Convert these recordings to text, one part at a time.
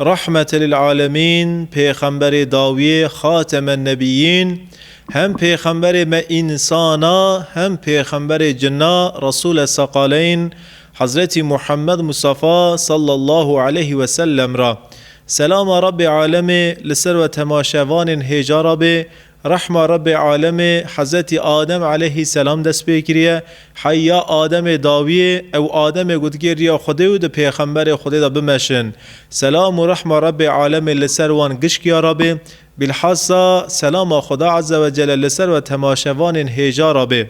Rahmetelîlalemîn, Pêxemberê dawiyê, Xatemennebiyyîn, hem pêxemberê me însan a, hem pêxemberê cin a, Resûle Seqaleyn, Hezretî Muhammed Mustafa sallallahu aleyh ve sellem ra. Selama Rabbê Alemê li ser we temaşevanên hêja ra bê Rehma Rebê Alemê Hezetî Adem eleyhî selam dest pê kiriye. Hey ya Ademê dawiyê, ew Ademê gotikê riya Xwedê û di pêxemberê Xwedê de bimeşin. Selam û rehma Rebê Alemê li ser wan gişk ya re bê. Bîlhassa selama Xweda Ezzewecelle li ser we temaşevanên hêja re bê.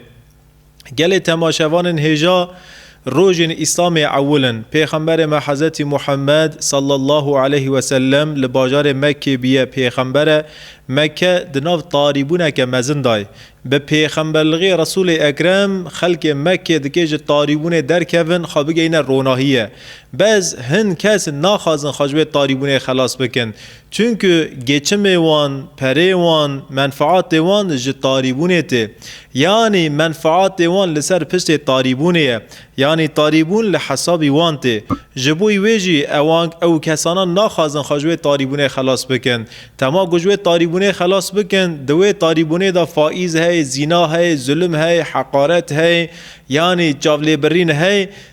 Gelê temaşevanên hêja rojên Îslamê ewil in. Pêxemberê me Hezretî Muhemmed sallallahu aleyh we sellem li bajarê Mekkê bûye pêxembere. Mekke di nav tarîbûneke mezin de ye. Bi pêxemberlixê Resûlê Ekrem xelkê Mekkê dikê ji tarîbûnê derkevin xwe bigeyne ronahiyê. Bez hin kes naxwazin xwe ji wê tarîbûnê xelas bikin. Çunku geçimê wan, perê wan, menfaatê wan ji tarîbûnê tê. Yanî menfaatê wan li ser piştê tarîbûnê ye. Yanî tarîbûn li hesabî wan tê. Ji bo wê jî ewan ew kesanan naxwazin xwe ji wê tarîbûnê xelas bikin. Dema ku ji wê tarîbûnê xelas bikin, di wê tarîbûnê de faîz heye, zîna heye, zulm heye, heqaret heye, yanî çavlêbirîn heye,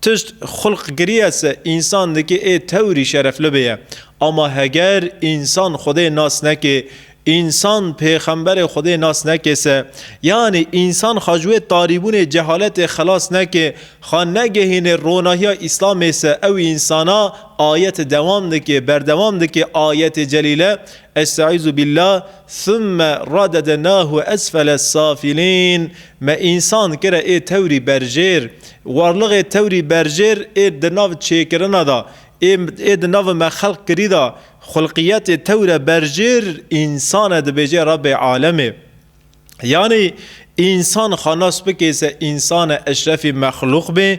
Tişt xulq kiriye se însan dikê ê tewrî şerefli bêye. Ama heger însan Xwedê nas nekê, însan pêxemberê Xwedê nas nekê se, yanî însan xwe ji wê tarîbûnê cehaletê xelas nekê, xwe negehînê ronahiya Îslamê se ew însana ayet dewam dikê, berdewam dikê ayetê celîle, Estaizu billah, thumme radedenahu esfele safilîn, Me însan kire ê tewrî berjêr. Warlighê tewrî berjêr ê di nav çêkirina de, ê ê di nav me xelq kirî de, xulqiyetê tewre berjêr însan e dibêje Rebê alemê. Yanî însan xwe nas bikê se însan e eşrefî mexlûq bê,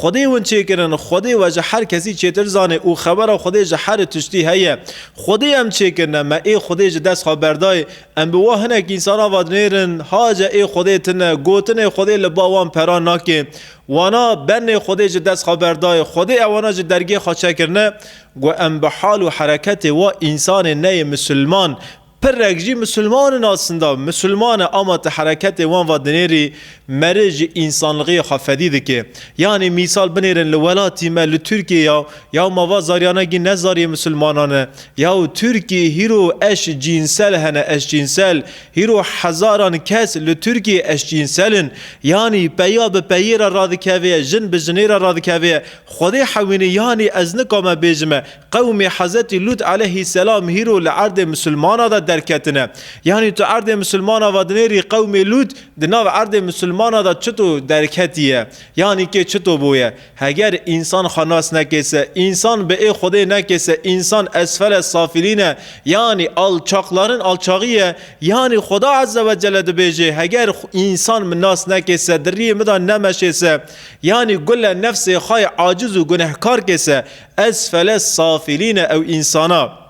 Xwedê hûn çêkirin, Xwedê we ji her kesî çêtir zanê û xebera Xwedê ji her tiştî heye. Xwedê em çêkirine, me ê Xwedê ji dest xwe berdayê. Em bi wan hinek însan ava dinêrin, Hace ê Xwedê tune, gotinê Xwedê li ba wan pera nake. Wana, benê Xwedê ji dest xwe berdayê, Xwedê ewana ji dergê xwe çekirine. Gu em bi hal û hereketê wa însanê neyê misilman, Pirrek jî misilman in asinda. Misilman e ama ti hereketê wan va dinêrî meric ji însanlixiyê xwe fedî dike. Yanî mîsal binêrin li welatî me li Tirkiyê ya yaw ma va zaryana gîn ne zaryê misilmanan e. Yaw Tirkî hîro eş cînsel hene eşcînsel. Hîro hezaran kes li Tirkiyê eşcînsel in. Yanî peya bi peyê re radikevê ye, jin bi jinê re radikevê ye. Xwedê hewînê yanî ez nikame bêjime Qewmê Hezetî Lût eleyhî selam hîro li erdê misilmana de derketine. Yanî tu erdê misilmana vadinêrî qewmê Lût di nav erdê misilmana de çito derketiye? Yanî kê çito bûye? Heger însan xwe nas nekê se, însan bi ê Xwedê nekê se, însan esfele safilîn e, yanî alçaqlarin alçaxî ye, yanî Xweda Eze ve Celle dibêje, heger însan min nas nekê se, di riyê min de nemeşê se, yanî gule nefsê xwe yê aciz û gunehkar kê se, Esfele safilîn e ew însana.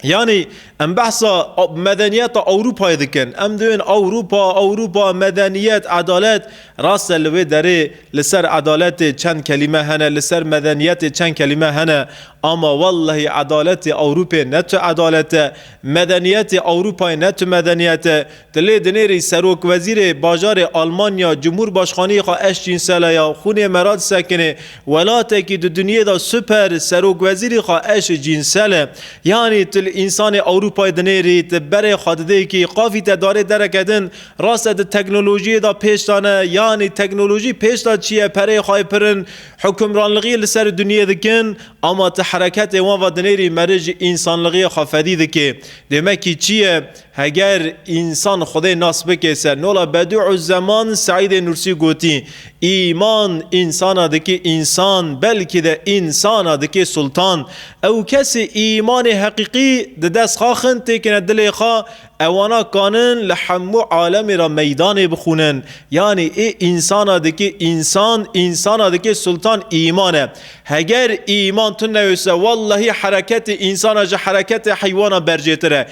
Yanî em behsa medeniyeta Ewropayê dikin. Em diyên Ewropa, Ewropa, medeniyet, edalet. Rast e li wê derê li ser edaletê çend kelîme hene, li ser medeniyetê çend kelîme hene. Ama wellehî edaletê Ewropê ne tu edalet e, medeniyetê Ewropayê ne tu medeniyet e. Di lê dinêrî serokwezîrê bajarê Almanya cumhurbaşxaniyê xwe eşcînsel e ya xûnê merad sekinê. Welatekî di dinyê de super serokwezîrî xwe eş cînsel e. Yanî til însanê Ewropayê dinêrî di berê xwe didê kî qafî te darê dereke din rast e di teknolojiyê de pêş de ne yanî teknolojî pêş de çi ye pereyê xwe yê pirin hukimranlixiyê li serê dinyê dikin ama ti hereketê wan ve dinêrî merij însanlixiyê xwe fedî dikê dê me kî çi ye Heger însan Xwedê nas bike ser nola Bedû'u'z-Zeman Seîdê Nûrsî gotî, Îman însana dike însan, belkî de însana dike sultan. Ew kesê îmanê heqîqî di dest xwe xin têkine dilê xwe, ewana kanin li hemû alemê re meydanê bixwînin. Yanî ê însana dike însan, însana dike sultan îman e. Heger îman tu newise wellehî hereketê însana ji hereketê heywana bercêtir e.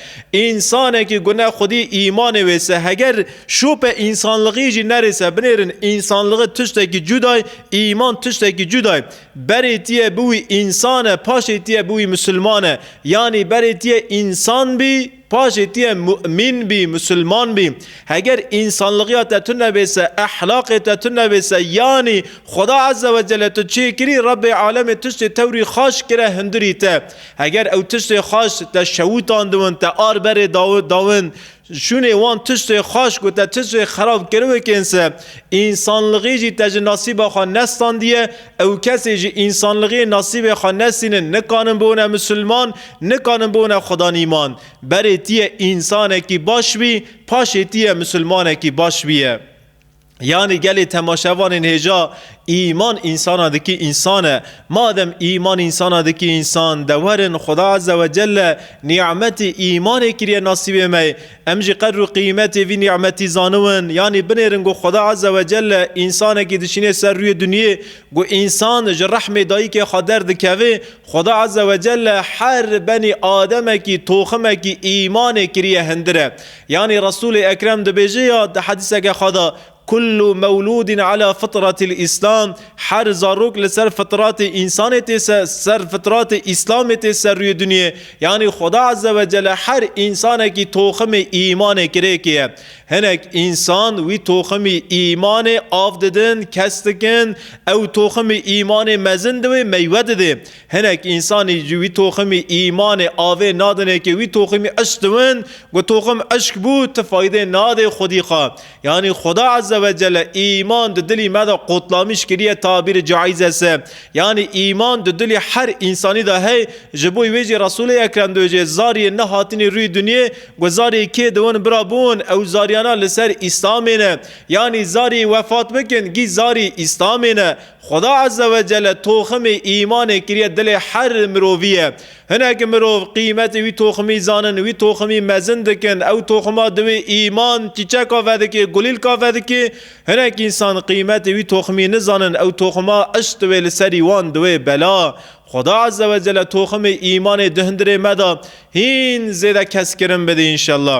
Însanekî gune xwedî îmanê wêse heger şope însanlixî jî nerêse binêrin însanlixî tiştekî cuda ye îman tiştekî cuda ye. Berê tî ye biwî însan e paşê tî ye biwî misilman e yanî berê tî ye însan bî Paşê tu yê mu'min bî, musulman bî. Heger însanligiya te tune bê se, ehlaqê te tune bê se, yanî Xweda Azze ve Celle tu çê kirî, Rebbê Alemê tiştê tewrî xaş kire hundirî te. Heger ew tiştê xaş te şewitandwin, te ar berê dawin, şûnê wan tiştê xaş ku te tiştê xerab kiriwikên se, însanligî jî te ji nasîba xwe nestandiye, Ew kesê ji însanlixê nasîbê xwe nesînin, nikanin bûne misilman, nikanin bûne xwedanîman. Berê tîye însanekî baş bî, paşê tîye misilmanekî baş bîye. Yanî gelê temaşevanên hêja îman însanan dikî însan e. Madem îman însanan dikî însan, dewerin Xweda Ezzewecelle nî'metê îmanê kiriye nasîbê me, Em jî qedr û qîmetê vî nîmetî zaniwin, yanî binêrin ku Xweda Azze ve Celle însanekî dişînê ser rûyê dinyê ku însan ji rehmê dayîkê xwe derdikeve, Xweda Azze ve Celle her benî ademekî, toximekî îmanê kiriye hindire. Yanî Resûlê Ekrem dibêje ya di hedîseke xwe de, Kullu mewlûdin ala fitretil Îslam, Her zarok li ser fitratê însanê tê ser fitratê Îslamê tê ser rûyê dinyê. Yanî Xweda Ezze ve Celle her însanekî toximê îmanê kirêkiye. Hinek însan wî toximî îmanê av didin, kes dikin, ew toximî îmanê mezin di wê meywe didê. Hinek însanî ji wî toximî îmanê avê nadinê ke wî toximî eşq diwin, ku toxim eşq bû ti faydê nadê xwedî xwe. Yanî Xuda Eze ve Cele îman di dilî me de qutlamiş kiriye tabîrê caîze se. Yanî îman di dilî her însanî de hey, ji bo wê jî Resûlê Ekrem diwê jê zariyên ne hatinî rûyê dinyê ku zariyê kê di win bira bûn ew zariyana li ser Îslamê ne. Yanî zariyê wefat bikin gî zarî Îslamê ne. Xuda Eze ve Cele toximê îmanê kiriye dilê her mirovî ye. Hinek mirov qîmetê wî toximî zanin, wî toximî mezin dikin, ew toxima di wê îman, çîçeka vedikê, gulîlka vedikê. Hinek însan qîmetê wî toximî nizanin, ew toxima işq di wê li serî wan di wê bela. Xuda Ezzewecelle toximê îmanê di hundirê me de hîn zêde keskirin bidî înşella.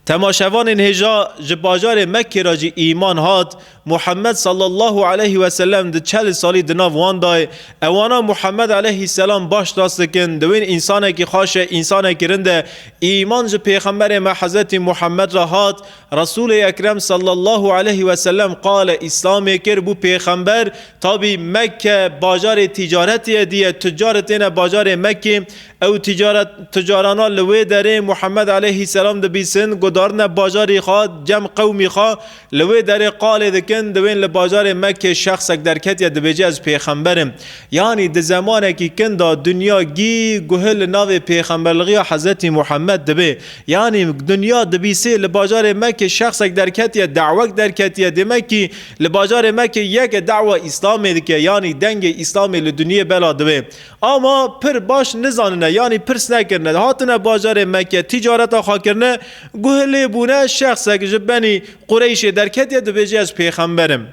Temaşevanên hêja ji bajarê Mekkê re jî îman hat, Muhammed sallallahu aleyh ve selem di çel salî di nav wan de ye. Ewana Muhammed aleyh selam baş nas dikin, di wên însanekî xaş e, însanekî rind e. Îman ji pêxemberê me Hezretî Muhammed re hat, Resûlê Ekrem sallallahu aleyh ve selem qale Îslamê kir, bû pêxember. Tabî Mekke bajarê tîcaretê ye, dîye tuccar têne bajarê Mekkê. Ew ticaret ticarana li wê derê Muhammed aleyhî selam dibîsin, guhdarine bajarî xwe, cem qewmî xwe li wê derê qalê dikin, di wên li bajarê Mekkê şexsek derketiye dibêje ez pêxember im. Yanî di zemanekî kin de dinya gî guhi li navê pêxemberligiya Hezretî Muhammed dibê. Yanî dinya dibîsê li bajarê Mekkê şexsek derketiye, dawek derketiye, demekî li bajarê Mekkê yek e dawa Îslamê dike, yanî dengê Îslamê li dinyê bela dibê. A ma pir baş nizanine yanî pirs nekirine hatine bajarê Mekke tîcareta xwe kirine, guh lê bûne şexsek ji benî Qureyşê derketiye dibêje ez pêxember im.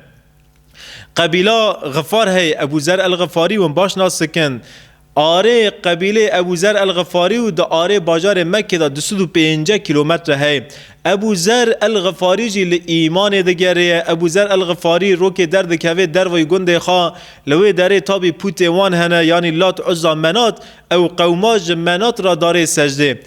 Qebîla Xifar hey Ebû Zer El Xifarî win baş nas dikin. Arê qebîlê Ebû Zer El Xifarî û di arê bajarê Mekkê de du sed û pênceh kîlometre hey. Ebû Zer el-Xifarî jî li îmanê digerê ye. Ebû Zer el-Xifarî rokê derdikevê derveyî gundê xwe. Li wê derê tabî pûtê wan hene yanî Lat, Uzza, Menat. Ew qewma ji Menat re darê sejdê.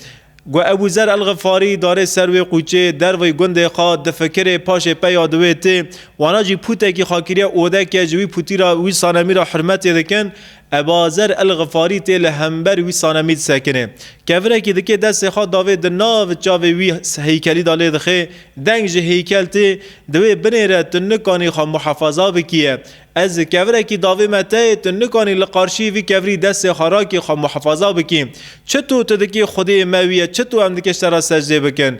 Ku Ebû Zer el-Xifarî darê ser wê qûçê derveyî gundê xwe, difikirê paşê peya di wê tê. Wana jî pûtekî xwe kiriye odeke ji wî pûtî re wî sanemî re hurmetê dikin. Ebazer El-Ghifari tê li hember wî Sanamîd sekinê. Kevirekî dikê destê xwe davê di nav çavê wî heykelî de lê dixê, deng ji heykel tê, di wê binê re tu nikanî xwe muhefaza bikiye. Ez ji kevirekî davê me teyê, tu nikanî li qarşî vî kevirî destê xwe rakî xwe muhefaza bikî. Çi tu tu dikî xwedê me wî ye, çi tu em dikê ji te re secdê bikin.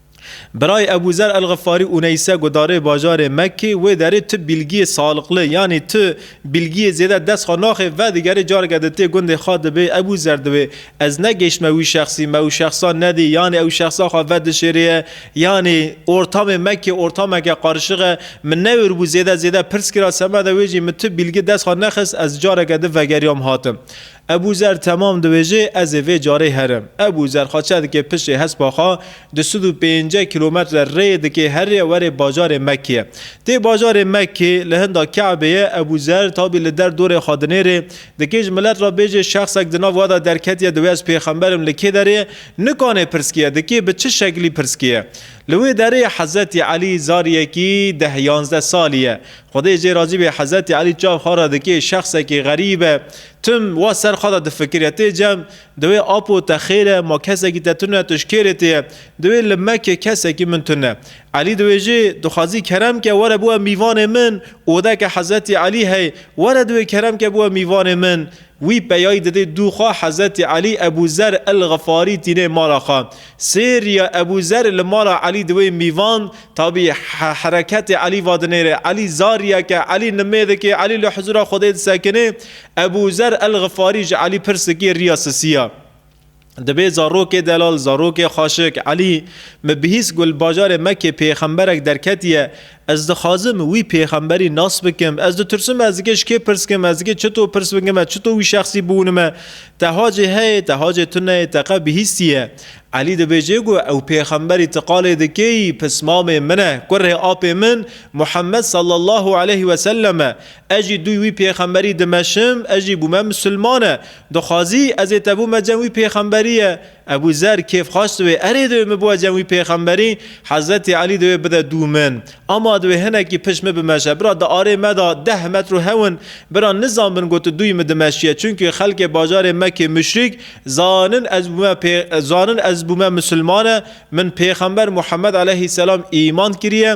Birayê Ebû Zer El-Xifarî Uneyse gudarê bajarê Mekkê wê derê tu bîlgiyê saliqli yanî tu bîlgiyê zêde dest xwe naxê vedigerê careke di tê gundê xwe dibê Ebû Zer dibê ez negêşme wî şexsî me û şexsa nedî yanî ew şexsa xwe vedişêrîye yanî ortamê Mekkê ortameke qarişix e min newêribû zêde zêde pirs kira semeda wê jî min tu bîlgi dest xwe nexist ez careke di vegeriyam hatim Ebû Zer temam dibêje, Ez ê vê carê herim. Ebû Zer xwe çedike piştê hespa xwe, du sed û pêncek kîlometre rêyê dike herê werê bajarê Mekkê. Tê bajarê Mekkê, li hinda Ke'bê ye, Ebû Zer tabî li der dorê xwe dinêrê, dikê ji milet re bêje şexsek di nav we de derketiye di wê ez pêxember im li kê derê ye, nikanê pirskiye, dikê bi çi şeklî pirskiye. Li wê derê Hezretî Elî zariyekî deh-yanzdeh salî ye. Xwedê jê razî be Hezetî Elî çav xwe re dikê şexsekî xerîb e. Tim wa ser xwe de difikire tê cem di wê apo te xêr e ma kesekî te tune tu ji kê rê tê ye? Di wê li me kê kesekî min tune. Elî di wê jê dixwazî kerem ke were biwe mîvanê min û wede ke Hezetî Elî hey were di wê kerem ke biwe mîvanê min Wî peyayî didê dû xwe Hezretî Elî Ebû Zer El-Xifarî tînê mala xwe. Sêriya Ebû Zer li mala Elî di wê mîvan, tabî hereketê Elî va dinêre. Elî zariyek e, Elî nimêdik ê, Elî li huzûra Xwedê disekinê. Ebû Zer El-Xifarî ji Elî pirs dikê riya sisiya. Divê zarokê delal, zarokê xaşik, Elî, me bihîst ku li bajarê Mekê pêxemberek derketiye, ez dixwazim wî pêxemberî nas bikim, ez ditirsim ez dikê ji kê pirs bikim, ez dikê çito pirs bikim, ez çito wî şexsî biwînime, te hacê heye, te hacê tu neyê, te qe bihîstiye? Elî dibêje ku ew pêxemberî ti qalê dikê yî pismamê min e, kurê apê min Muhemmed sallallahu aleyh weselem e, ez jî dûy wî pêxemberî dimeşim, ez jî bûme misilmane, Dixwazî ez ê te bûme cem wî pêxemberî ye. Ebû Zer kêfxweş diwê erê divê min bibe cem wî pêxemberî, Hezretî Elî divê bide dû min. Ama divê hinekî pişt min bimeşe. Bira di arê me de deh metro hewin. Bira nizanbin ku tu dûyî min dimeşîye. Çimkî xelkê bajarê Mekê muşrîk zanin ez bûme pê zanin ez bûme musulmane, min pêxember Muhemmed eleyhî selam îman kirîye,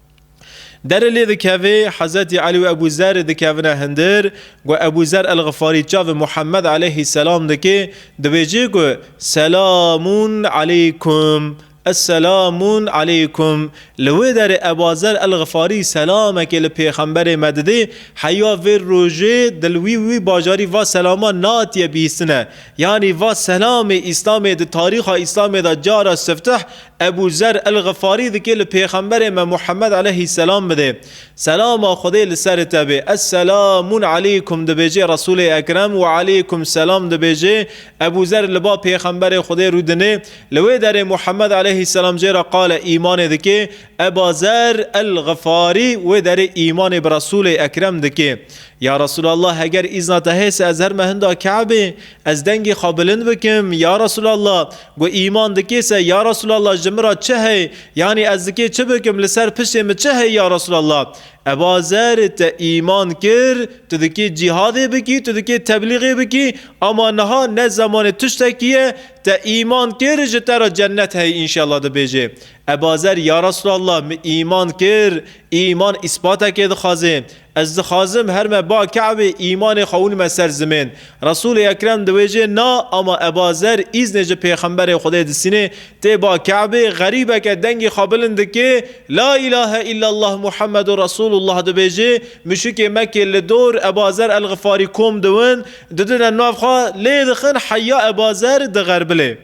Derê lê dikevê, Hezretî Elî û Ebû Zerrî dikevine hindir, ku Ebû Zerr El-Xifarî çavê Muhemmed aleyhîsselam dike, dibêje ku Selamûn eleykum, Esselamûn eleykum. Li wê derê Ebû Zerr El-Xifarî selamekê li Pêxemberê me didê, heya vê rojê di li wî û wî bajarî va selaman nehatiye bîhîstine. Yanî va selamê Îslamê di tarîxa Îslamê de cara sifteh Ebû Zer El-Xifarî dikê li Pêxemberê me Muhemmed eleyhî selam bidê, Selama Xwedê li serê te bê, Es-selamun eleykum dibêjê Resûlê Ekrem Wa eleykum selam dibêjê, Ebû Zer li ba Pêxemberê Xwedê rû dinê, li wê derê Muhemmed eleyhî selam jê re qale îmanê dikê, Eba Zer El-Xifarî wê derê îmanê bi Resûlê Ekrem dikê, Ya Resûlallah heger îzna te hêse ez herme hinda Kabê, Ez dengê xwe bilind bikim, Ya Resûlallah! Got, Îman dikê se, Ya Resûlallah, ji min re çi heye? Yanî ez dikê çi bikim, li ser piştê min çi heye, Ya Resûlallah? Eba Zer, Te îman kir, tu dikê cîhadê bikî, tu dikê teblîgê bikî, ama niha ne zemanê tiştekî ye, te îman kir, ji te re cennet heye înşellah dibêje. Eba Zer, Ya Resûlallah, min îman kir, îman îspatekê dixwaze. Ez dixwazim her me ba Ke'bê îmanê xwe winime ser zimên. Resûlê Ekrem di wê cê na ama Eba Zer îznê ji Pêxemberê Xwedê disînê, tê ba Ke'bê, xerîbeke dengê xwe bilind dikê, La îlahe îllellah Muhammedu Resûlullah dibêjê, muşikê Mekkê li dor Eba Zer El-Xifarî kom diwin, didine nav xwe, lê dixin heya Eba Zer di xerbilê.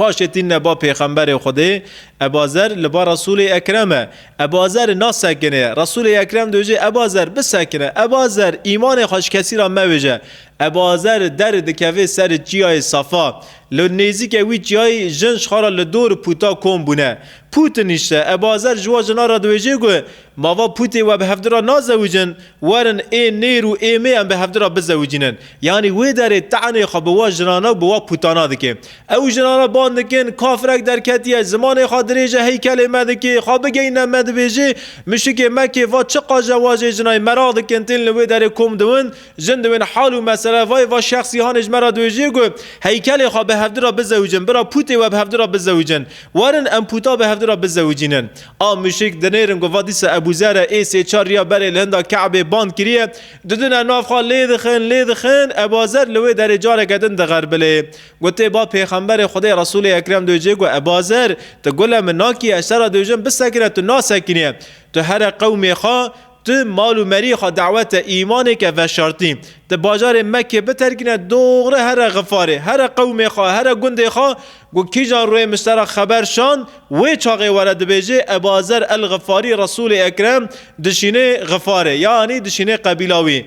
Paşê tîne ba pêxemberê Xwedê, Eba Zer li ba Resûlê Ekrem e. Eba Zer nasekinê. Resûlê Ekrem dojê Eba Zer bisekine. Eba Zer îmanê xwe ji kesî re mevêje. Eba Zer derê dikeve ser çiyayê Safa. Li nêzîkê wî çiyayê jin ji xwe re li dor pûta kom bûne. Pût nîşte. Eba Zer ji wan jinan re diwêje ku Mava pûtê we bi hevdira nazewicin, werin ê nêr û ê mê em bi hevdira bizewicînin. Yanî wê derê tenê xwe bi wa jinana û bi wa pûtana dikê. Ew jinana bang dikin, Kafirek derketiye, zimanê xwe dirêje heykelê me dikê, xwe bigeyne me dibêjê, mişikê me kê va çi qaje wajê jinayê meraq dikin tên li wê derê kom diwin, jin diwin hal û mesele vayê va şexsîhanê ji me re dibêjê ku heykelê xwe bi hevdira bizewicin, bira pûtê we bi hevdira bizewicin, werin em pûta bi hevdira bizewicînin. A muşik dinêrin ku va dîsa Ebû Zer e, ê sê çar riya berê li hinda Kabê band kiriye, didine nav xwe lê dixin, lê dixin, Eba Zer li wê derê careke din dixerbilê. Gotê ba pêxemberê Xwedê Resûlê Ekrem dojê ku Eba Zer, tu gule min nakî, eştera dojin bisekine tu nasekiniye. Tu here qewmê xwe, Tu mal û meriyê xwe dawete îmanêke veşartî. Ti bajarê Mekkê biterkîne doxre here Xifarê, here qewmê xwe, here gundê xwe ku kîjan rûyê Mustera xeber şand, wê çaxê were dibêjê Ebu Azer El-Xifarî Resûlê Ekrem dişînê Xifarê, yanî dişînê qebîla wî.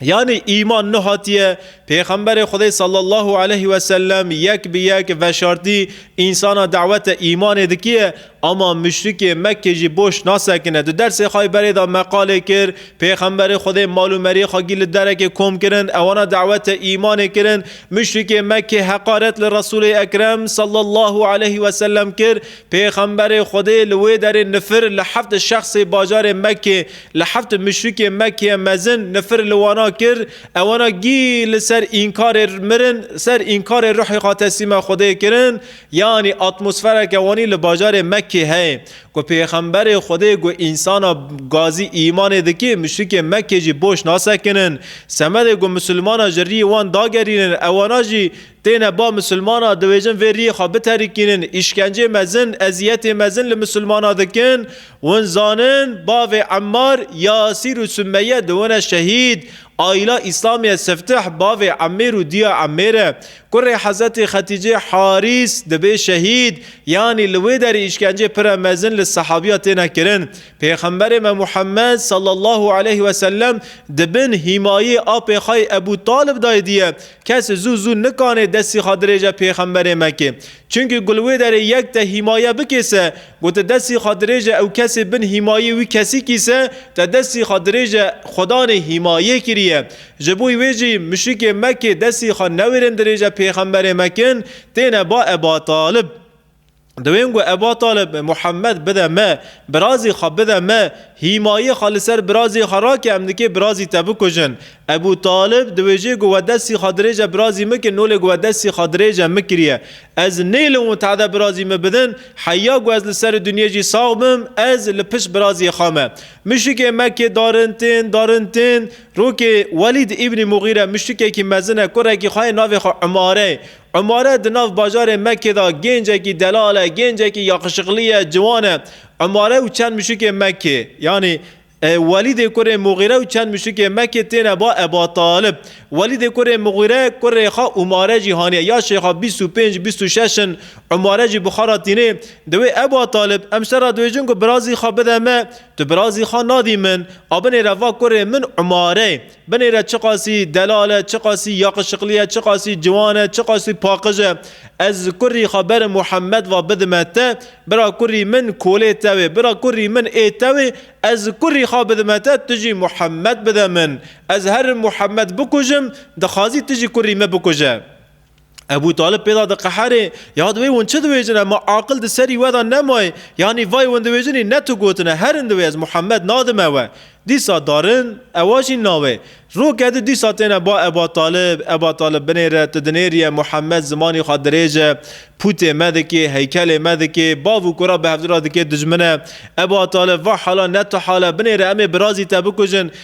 Yanî îman nu hatiye Pêxemberê Xwedê sallallahu aleyh weselem yek bi yek veşartî însana dawete îmanê dikiye ama muşrikê Mekkê jî boş nasekine. Di dersê Xayberê de meqalê kir Pêxemberê Xwedê mal û meriyê xwegî li derekê kom kirin ewana dawete îmanê kirin muşrikê Mekkê heqaret li Resulê Ekrem sallallahu aleyh weselem kir Pêxemberê Xwedê li wê derê nifir li heft şexsê bajarê Mekkê, li heft muşrikê Mekkê mezin nifir li wana kir, ewana gî li ser înkarê mirin, ser înkarê ruhê xwe teslîma Xwedê kirin, yanî atmosfereke wanî li bajarê Mekkê heye ku Pêxemberê Xwedê got Însana gazî îmanê dikê, muşrikê Mekkê jî boş nasekinin. Semedê ku misilmana ji rî wan dagerînin ewana jî Têne ba misilmana dibêjin vê riyê xwe biterikînin, îşkencê mezin, eziyetê mezin li misilmana dikin, win zanin bavê Emmar, Yasîr û Sumeye dibûne şehîd, Aîla Îslamiye Siftih bavê Emmêr û diya Emmêr e, kurê Hezetê Xetîcê Harîs dibê şehîd, yanî li wê derê îşkencê pire mezin li sehabiya têne kirin. Pêxemberê me Muhammed, sallallahu aleyh wesellem, di bin hîmayê apê xwe yê Ebû Talib dayê diye, Kes zû zû nikanê destî xwe dirêje Pêxemberê Mekê. Çimkî ku li wê derê yek te hîmaye bikê se, ku tu destî xwe dirêje ew kesê bin hîmayê wî kesîkî se, te destî xwe dirêje Xwedanê hîmayê kiriye. Ji bo wê jî muşrikê Mekê destî xwe newêrin dirêje Pêxemberê Mekin, têne ba Ebatalib. Di wê ngo Eba Talib Muhammed bide me, birazê xwe bide me, hîmayê xwe li ser birazê xwe rake em nikê birazî te bikujin. Ebû Talib di wê jê ngo we destî xwe dirêj e birazî min kir nolê ngo we destî xwe dirêj e min kiriye. Ez nêlim û tehde birazî min bidin, heyya ngo ez li serê dinyê jî sax bim, ez li pişt birazê xwe me. Muşrikê Mekkê darin tên, darin tên, rokê Welîd îbnî Muxîre muşrikekî mezin e, kurekî xwe yê navê xwe Umare ye. Umare di nav bajarê Mekkê de gêncekî delal e, gêncekî yaqişiqlî ye, ciwan e. Umare û çend muşikê Mekkê, yanî Welîdê kurê Muxîre û çend muşikê Mekkê têne ba Eba Talib. Welîdê kurê Muxîre kurê xwe Umare jî haniye. Yaşê xwe bîst û pênc, bîst û şeş in. Umare jî Buxara tînê. Diwê Eba Talib, em ser re dibêjin ku birazî xwe bide me, tu birazî xwe nadî min. A binêre va kurê min Umare. Binê re çiqasî delal e, çiqasî yaqişiqlî e, çiqasî ciwan e, çiqasî paqij e. Ez ji kurrî xwe berê Muhemmed ve bidime te, bira kurrî min kolê te wê, bira kurrî min ê te wê, ez ji kurrî xwe bidime te, tu jî Muhemmed bide min. Ez herim Muhemmed bikujim, dixwazî tu jî kurrî me bikuje. Ebû Talib pêda diqeherê, ya divê hûn çi diwêjine, ma aqil di serî we de nemayê, yanî vay hûn diwêjinî ne tu gotine, herin divê ez Muhammed nadime we. Dîsa darin, ewa jî nawê. Roke di dîsa têne ba Eba Talib, Eba Talib binêre, tu dinêrîye, Muhammed zimanî xwe dirêj e, pûtê me dikê, heykelê me dikê, bav û kura bi hevdira dikê dijmine. Eba Talib, va hala ne tu hal e, binêre em ê birazî te bikujin.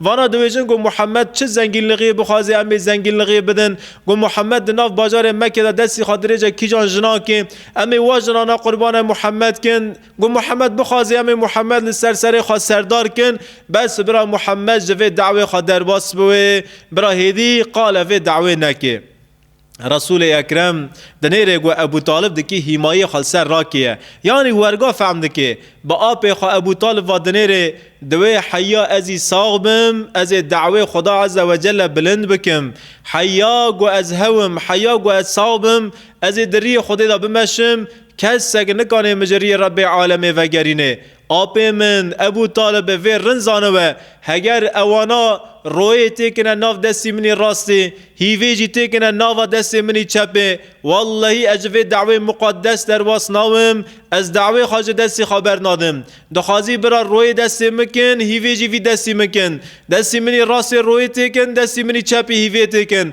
Vana dibêjin ku Muhammed çi zengînlixiyê bixwaze em ê zengînlixiyê bidin, ku Muhammed di nav bajarê Mekke de destî xatirêce kîjan jinan kê, em ê wa jinana qurbane Muhammed kin, ku Muhammed bixwaze em ê Muhammed li ser serê xwe serdar kin, bes bira Muhammed ji vê dawê xwe derbas bibe, bira hêdî qale vê dawê neke. Resûlê Ekrem di nêrê ku Ebû Talib dikî hîmayê xwe li ser rakêye. Yanî werga fehm dikê. Bi apê xwe Ebû Talib va di nêrê di wê heya ezî sax bim, ezê dawê Xuda Eze Wecelle bilind bikim. Heya ku ez hewim, heya ku ez sax bim, ezê di riyê Xwedê de bimeşim, kesek nikanê min ji riyê Rebbê Alemê vegerînê. Apê min Ebû Talib e vê rind zanibe, heger ewana royê têkine nav destî min î rastê, hîvê jî têkine nava destê min î çepê, wellehî ez ji vê dawê muqaddes derbas nawim, ez dawê xwe ji destê xwe bernadim. Dixwazî bira royê destê min kin, hîvê jî vî destî min kin. Destî min î rastê royê têkin, destî min î çepê hîvê têkin.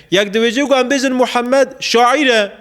Yek dibêje ku em bêjin Muhammed şaîr e.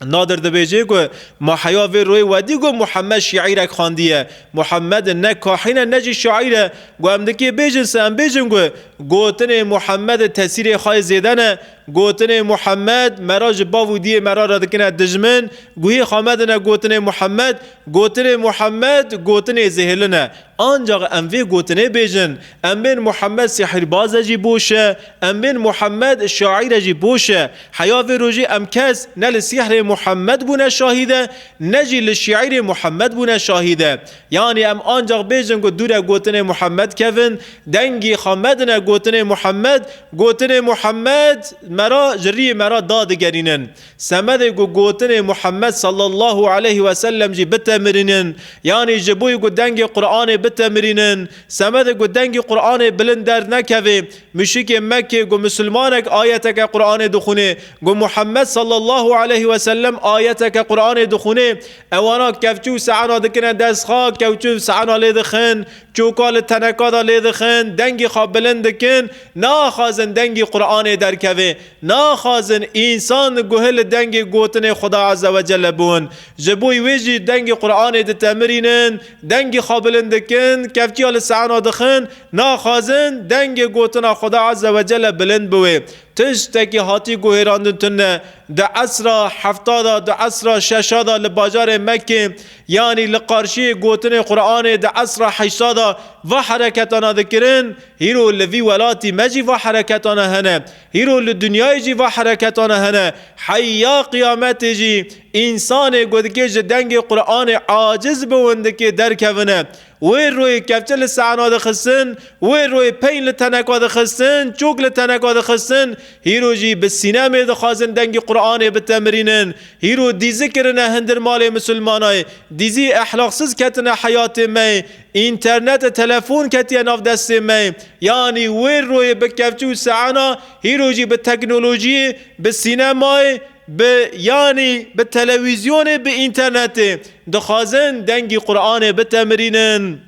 Nadir dibêje ku ma heya vê royê wedî ku Muhammed şîîrek xandiye. Muhammed ne kahîn e ne jî şaîr e. Ku em dikê bêjin se em bêjin ku gotinê Muhammed tesîrê xwe yê zêde ne. Gotinê Muhammed me ra ji bav û diyê me ra re dikine dijmin. Guhê xwe medine gotinê Muhammed. Gotinê Muhammed gotinê zêhirlin e. Ancax em vê gotinê bêjin, Em bên Muhammed sihîrbaz e jî boş e, em bên Muhammed şaîr e jî boş e. Heya vê rojê em kes ne li sîhrê Muhammed bûne şahîd e, ne jî li şîîrê Muhammed bûne şahîd e. Yanî em ancax bêjin ku dûre gotinê Muhammed kevin, dengî xwe medine gotinê Muhammed, gotinê Muhammed me ra ji rîyê me ra dadigerînin. Semedê ku gotinên Muhammed sallallahu aleyh ve sellem jî bitemirînin, yanî ji bo ku dengê Quranê bitemirînin, semedê ku dengê Quranê bilind dernekevê, muşrikê Mekkê ku misilmanek ayeteke Quranê dixwinê, ku Muhammed sallallahu aleyh ve sellem ayeteke Quranê dixwinê, ewana kevçû û seana dikine dest xwe, kewçû û seana lê dixin, çoka li teneka de lê dixin, dengê xwe bilind dikin, naaxazin dengê Quranê derkeve. Naxwazin însan guh li dengê gotinê Xuda Eze Wecele bûn. Ji bo wê jî dengê Quranê ditemirînin, dengê xwe bilind dikin, kevçiya li seana dixin, naxwazin dengê gotina Xuda Eze Wecele bilind biwê. Tiştekî hatî guhêrandin tune. Di esra hefta de, di esra şeşa de li bajarê Mekê yanî li qarşiyê gotinê Quranê di esra heşta de va hereketana dikirin, Hîro li vî welatî me jî va hereketane hene. Hîro li dinyayê jî va hereketane hene. Heya qiyametê jî însanê ku dikê ji dengê Quranê aciz bi windikê derkevine. Wê royê kevçe li seana dixistin, wê royê peyn li teneka dixistin, çûk li teneka dixistin, hîro jî bi sînemê dixwazin dengê Quranê bitemirînin. Hîro dîzi kirine hindir malê misilmanay, dîzî ehlaqsiz ketine heyatê me. Înternete telefon ketiye nav destê me. Yanî wê royê bi kevçi û seana hîro jî bi teknolojiyê, bi sînemayê, bi yanî bi telewîzyonê, bi înternetê dixwazin dengî Quranê bitemirînin.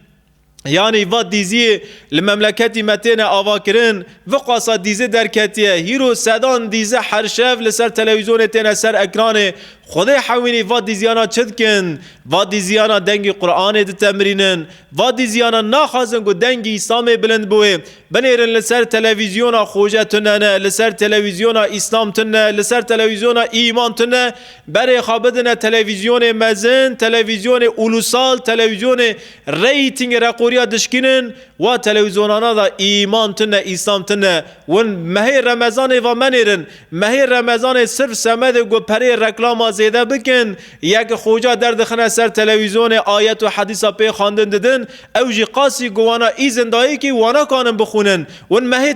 Yanî va dîziyê li memleketî me têne avakirin. Viqasa dîzi derketiye. Hîro sedan dîzi her şev li ser telewîzyonê têne ser ekranê. Xwedê hewînî va dîzyana çi dikin? Va dîzyana dengî Quranê ditemirînin. Va dîzyana naxwazin ku dengî Îslamê bilind biwê. Binêrin li ser televîzyona Xoje tune ne, li ser televîzyona Îslam tune ne, li ser televîzyona Îman tune ne. Berê xwe bidine televîzyonê mezin, televîzyonê ûlûsal, televîzyonê reyîtîngê reqoriya dişkînin. Wa telewîzyonanan de Îman tune ne, Îslam tune ne. Win mehê Remezanê va menêrin. Mehê Remezanê sirf semedê ku pereyê reklama zêde bikin, ye ki xoca derdixine ser telewîzyonê ayet û hedîsa pê xwendin didin, ew jî qasî ku wana îzin dayê kî wanakanin bixwînin. Win mehê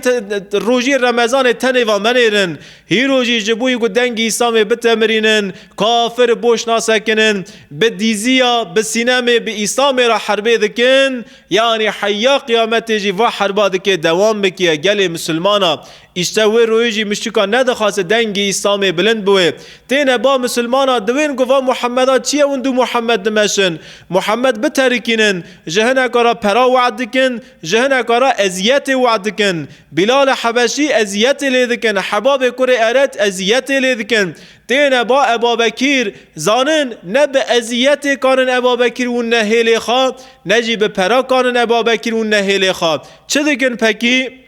rojî Remezanê tenê va menêrin. Hîro jî ji bo ku dengî Îslamê bitemirînin, kafir boş nasekinin, bi dîziya, bi sînemê, bi Îslamê re herbê dikin, yanî heya qiyametê jî va herba dikê dewam bikiye gelê misilmana. Îşte wê royê jî miştika nedixwase dengê Îslamê bilind biwê. Têne ba misilmana diwên ku va Muhammeda çi ye windû Muhammed dimeşin, Muhammed biterikînin, ji hineka ra pera wad dikin, ji hineka ra eziyetê wad dikin. Bîlale Hebeşî eziyetê lê dikin, Hebabê kurê Eret eziyetê lê dikin. Têne ba Ebabekîr, zanin ne bi eziyetê kanin Ebabekîr win nehêlê xwe, ne jî bi pera kanin Ebabekîr win nehêlê xwe. Çi dikin pekî?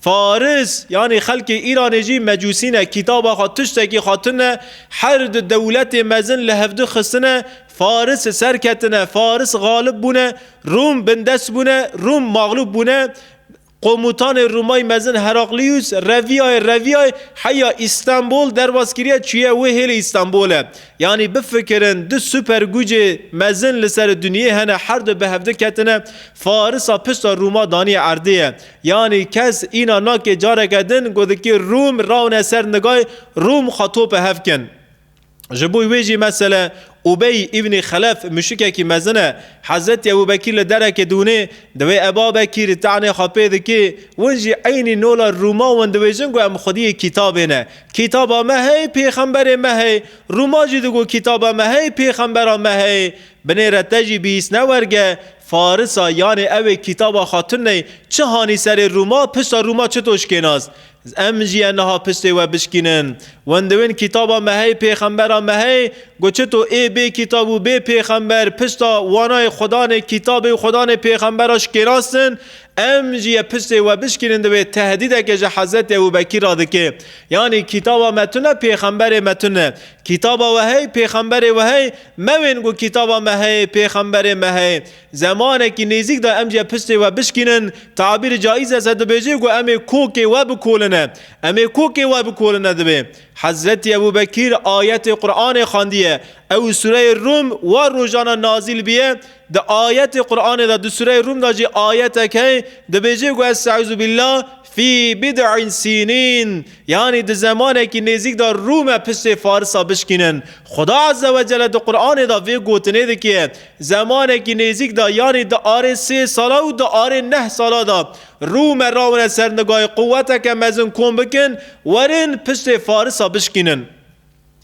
Faris, yanî xelkê Îranê jî mecûsî ne, kîtaba xwe tiştekî xwe tune, her di dewletê mezin li hevdu xistine, Faris serketine, Faris xalib bûne, Rûm bindest bûne, Rûm maxlûb bûne, Qomutanê Rûmayî mezin Heraklîus, Revîyayê Revîyayê heya Îstenbol derbas kiriye çûye wê hêlê Îstenbole. Yanî bifikirin du super gucê mezin li serê dinyê hene her du bi hevdu ketine, Farisa pişta Rûma daniye erdê ye. Yanî kes îna nakê careke din gotikî Rûm rawne ser nigay Rûm xwe tope hev kin. Ji bo wê jî mesele Ubey îbnî Xelef muşikekî mezin e. Hezretî Ebû Bekîr li derekê dûnê diwê Eba Bekîr tenê xwe pê dikê. Win jî eynî nola Rûma win diwêjin ku em xwediyê kîtabê ne. Kîtaba me heye pêxemberê me heye. Rûma jî digo kîtaba me heye pêxembera me heye. Binêre te jî bihîs ne werge. Farisa yanê ewê kîtaba xwe tuney çi hanî serê Rûma, pişta Rûma çi to şkênas? Em jî yên niha piştê we bişkînin. Wendewên kîtaba me hey, pêxembera me hey, got çi to ê bê kîtab û bê pêxember pişta wanayê xwe danê kîtabê û xwe danê pêxembera şkênastin, em jî yê piştê we bişkînin divê tehdîdeke ji Hezretî Ebû Bekîr re dike. Yanî kîtaba me tune pêxemberê me tune. Kîtaba we hey, pêxemberê we hey, Mewên ku kitaba me heye, pêxemberê me heye. Zemanekî nêzîk de em jê piştê we bişkînin, tabîr caiz e se dibêjê ku em ê kokê we bikoline. Em ê kokê we bikoline dibê. Hezretî Ebû Bekîr ayetê Quranê xandiye. Ew sureyê Rûm war rojane nazîl biye. Di ayetê Quranê de di sureyê Rûm de jî ayetek heye dibêjê ku Estaizu Bîllah, Fî bid'in sînîn, yanî di zemanekî nêzîk de Rûme piştê Farisa bişkînin. Xuda Ezze ve Celle di Quranê de vê gotinê dike, Zemanekî nêzîk de yanî di arê sê sala û di arê neh sala de Rûme rawine ser nigayê quweteke mezin kom bikin, werin piştê Farisa bişkînin.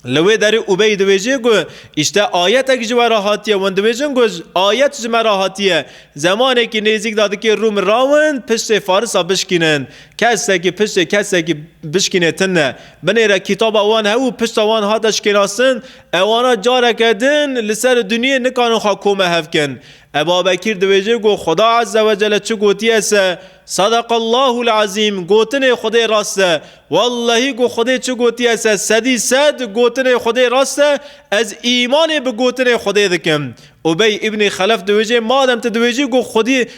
Li wê derê Ubey dibêje ku îşte ayetek ji we re hatiye. Wan dibêjin ku ayet ji me re hatiye. Zemanekî nêzîk de dikê Rûm rawin piştê Farisa bişkînin. Kesekî piştê kesekî bişkînê tin ne. Binê re kitaba wan hev û pişta wan hate şikênastin. Ewana careke din li ser duniyê nikarin xwe kome hev kin. Eba Bekîr dibêje ku Xuda Ezzewecelle çi gotiye se, Sadaqallahul Ezîm, gotinê Xwedê rast e. Wellehî ku Xwedê çi gotiye se sedî sed gotinê Xwedê rast e, ez îmanê bi gotinê Xwedê dikim. Ubey Îbnî Xelef diwêjê madem tu diwêjî ku Xwedî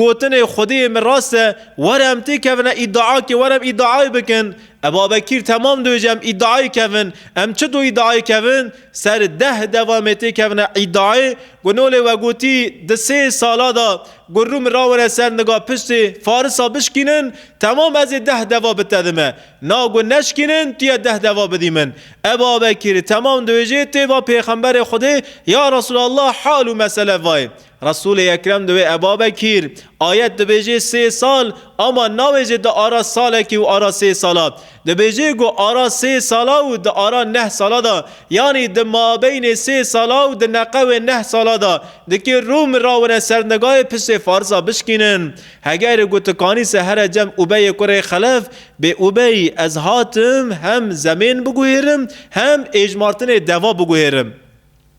gotinê Xwedê yê min rast e, were em têkevine îdiakê were em îdiayê bikin. Eba Bekîr temam diwêjê em îdiayê kevin. Em çito îdiayê kevin? Ser deh devam ê têkevine îdiayê ku nolê we gotî di sê sala de ku rû min rawêne ser niga piştê Farisa bişkînin, Temam ez ê deh deva bitedim e. Na gu neşkînin tu yê deh deva bidî min. Ebu Abekîr, Temam dibêjê tu yê va Pêxemberê Xwedê, Ya Resûlallah hal û mesele vayê. Resûlê Ekrem diwê Ebu Abekîr, ayet dibêjê sê sal, ama nabêjê di ara salekî û ara sê sala. Dibêjê gu ara sê sala û di ara neh sala de, yanî di mabeynê sê sala û di neqewê neh sala de, di kê rû min rawine ser nigayê pisê farsa bişkînin. Hegerê ku tu kanî se here cem Ubeyê kurê Xelef, bê Ubey ez hatim hem zemên biguhêrim hem êjmartinê deva biguhêrim.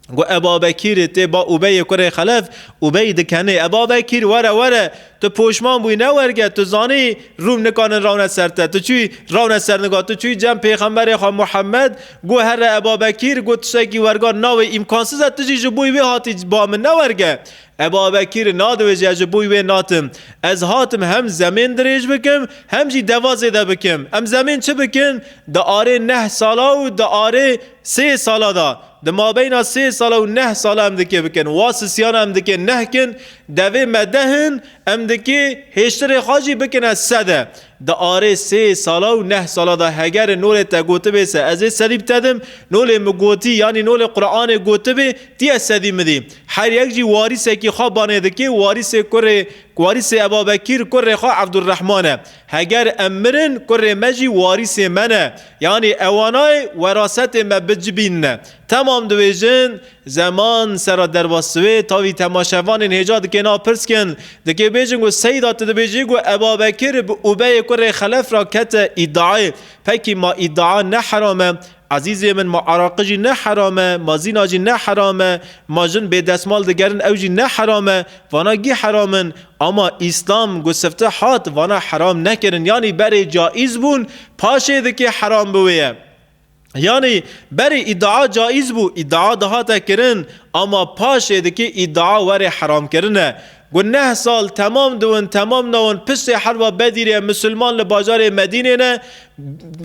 Got Eba Bekîrê tê ba Ubeyê kurê Xelef, Ubey dikenê, Eba Bekîr were were, tu poşman bûyî ne werge, tu zanî Rûm nikanin rewne ser te, tu çûyî rewne ser nika, tu çûyî cem pêxemberê xwe Muhemmed, got here Eba Bekîr, got tiştekî werga navê îmkansiz e, tu jî ji bo wê hatî ba min ne werge. E Babekîr, nadiwêjî ez ji bûy wê natim. Ez hatim hem zemên dirêj bikim hem jî deva zêde bikim. Em zemên çi bikin? Di arê neh sala û di arê sê sala de, di mabeyna sê sala û neh sala em dikê bikin. Wa sisiyana em dikê neh kin. Devê me deh in, em dikê hêştirê xwe jî bikine sed e. Di arê sê sala û neh sala de hegerê nolê te gotibê se ez ê sedî bitedim, nolê min gotî yanî nolê Quranê gotibê tî ez sedî midî. Her yek jî warîsekî xwe banê dikê û warîsê kurê warîsê Ebabekîr kurê xwe Ebdulrehman e. Heger em mirin kurê me jî warîsê me ne. Yanî ewanayê werasetê me bicibînine. Temam dibêjin Zeman, Serra derva siwê, tavî temaşevanên hêja dike nav pirskin. Dikê bêjin ku Seyda tu dibêjî ku Ebabekir bi ubeyê kurê xelef re kete îdiayê. Pekî ma îdia ne heram e. Ezîzê min ma araqi jî ne heram e, ma zîna jî ne heram e. Ma jin bê desmal digerin ew jî ne heram e. Vana gî heram in. Ama Îslam ku sifte hat vana heram nekirin yanî berê caîz bûn paşê dikê heram bi wê ye. Yanî berê îdia caiz bû, îdia dihate kirin ama paşê dikê îdia were heramkirin e. Ku neh sal temam diwin temam newin pisê herba bedîrê misilman li bajarê Medînê ne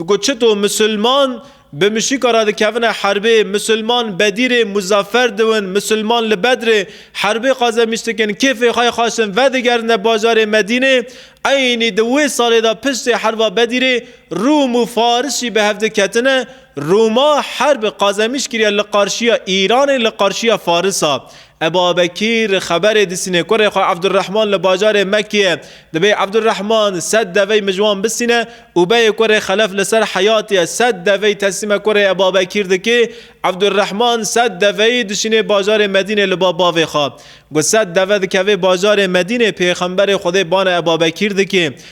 ku çito misilman bi mişîka re dikevine herbê, misilman bedîrê muzafer diwin, misilman li bedrê herbê qazemîş dikin kêfê xwe xaşin vedigerine bajarê Medînê eynî di wê salê de pisê herba bedîrê Rûm û Faris jî bi hev diketine. Rûma herb qazemîş kiriye li qarşiya Îranê, li qarşiya Farisa. Ebabekîr xeberê disîne kurê xwe Evdurehman li bajarê Mekkê ye. Dibê Evdurehman sed devey mijwan bisîne û beyê kurê Xelef li ser heyatê ye. Sed devey teslîme kurê Ebabekîr dike. Evdurehman sed deveyî dişînê bajarê Medînê li ba bavê xwe. Ku sed deve dikeve bajarê Medînê, pêxemberê Xwedê bana Ebabekîr dike.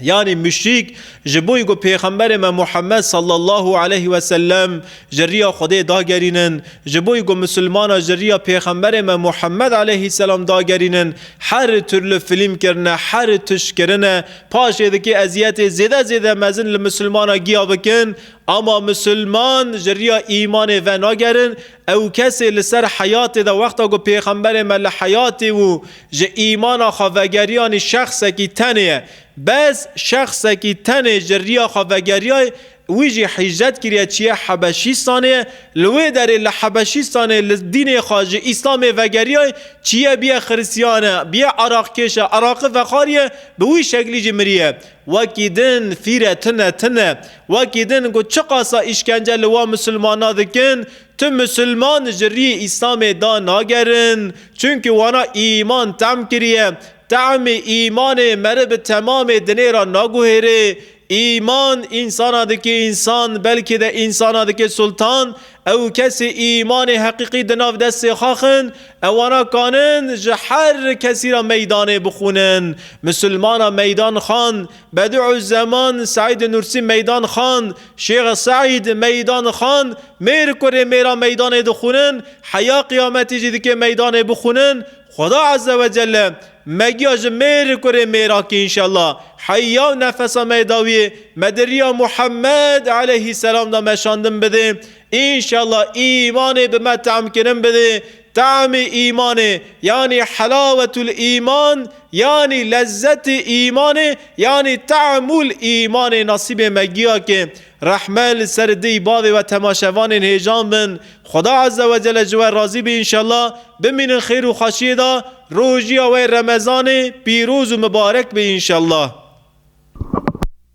Yanî muşrîk ji bo ku Pêxemberê me Muhammed sallallahu aleyh weselem ji riya Xwedê dagerînin, ji bo ku misilmana ji riya Pêxemberê me Muhammed aleyhîsselam dagerînin her tirli filîm kirine, her tişt kirine, paşê dikê eziyetê zêde zêde mezin li misilmana giya bikin, ama misilman ji riya îmanê venagerin, Ew kesê li ser heyatê de wexta ku Pêxemberê me li heyatê bû ji îmana xwe vegeriyanî şexsekî tenê ye. Bes şexsekî tenê ji riya xwe vegeriyay, wî jî hîcret kiriye çiye Hebeşîstanê ye. Li wê derê li Hebeşîstanê li dînê xwe ji Îslamê vegeriyay, çiye biye Xiristiyane, biye Iraqkêşe, Iraqi vexariye, bi wî şeklî jî miriye. Wekî din fîre tune tune. Wekî din ku çiqasa îşkence li wan misilmana dikin, tu misilman ji riyê îslamê da nagerin. Çunki wana îman tehm kiriye. Tehmê îmanê meriv bi temamê dinê ra naguhêrê. Îman, însana dike însan, belkî de însana dike sultan. Ew kesê îmanê heqîqî di nav destê xwe xin, ewana kanin ji her kesî re meydanê bixwînin. Misilmana meydan xan, Bediû Zeman Seîdê Nûrsî meydan xan, Şêx Seîd meydan xan, mêr kurê mêra meydanê dixwînin, heya qiyametî jî dikê meydanê bixwînin, Xuda Azze ve Celle me giya ji mêr û kurê mêrakî înşella. Heya û nefesa me yê dawiyê me di riya Muhammed eleyhîsselam de meşandin bidê. Înşella îmanê bi me tahmkirin bidê. Tahmê îmanê yanî helawetul îman yanî lezzetê îmanê yanî tahmul îmanê nasîbê me giya ke Rehme li ser dîy bavê we temaşevanên hêjan bin Xweda Eze we Cele ji we razî bî înşella bimînin xêr û xweşiyê de rojîya we remezanê pîroz û mibarek bî înşella.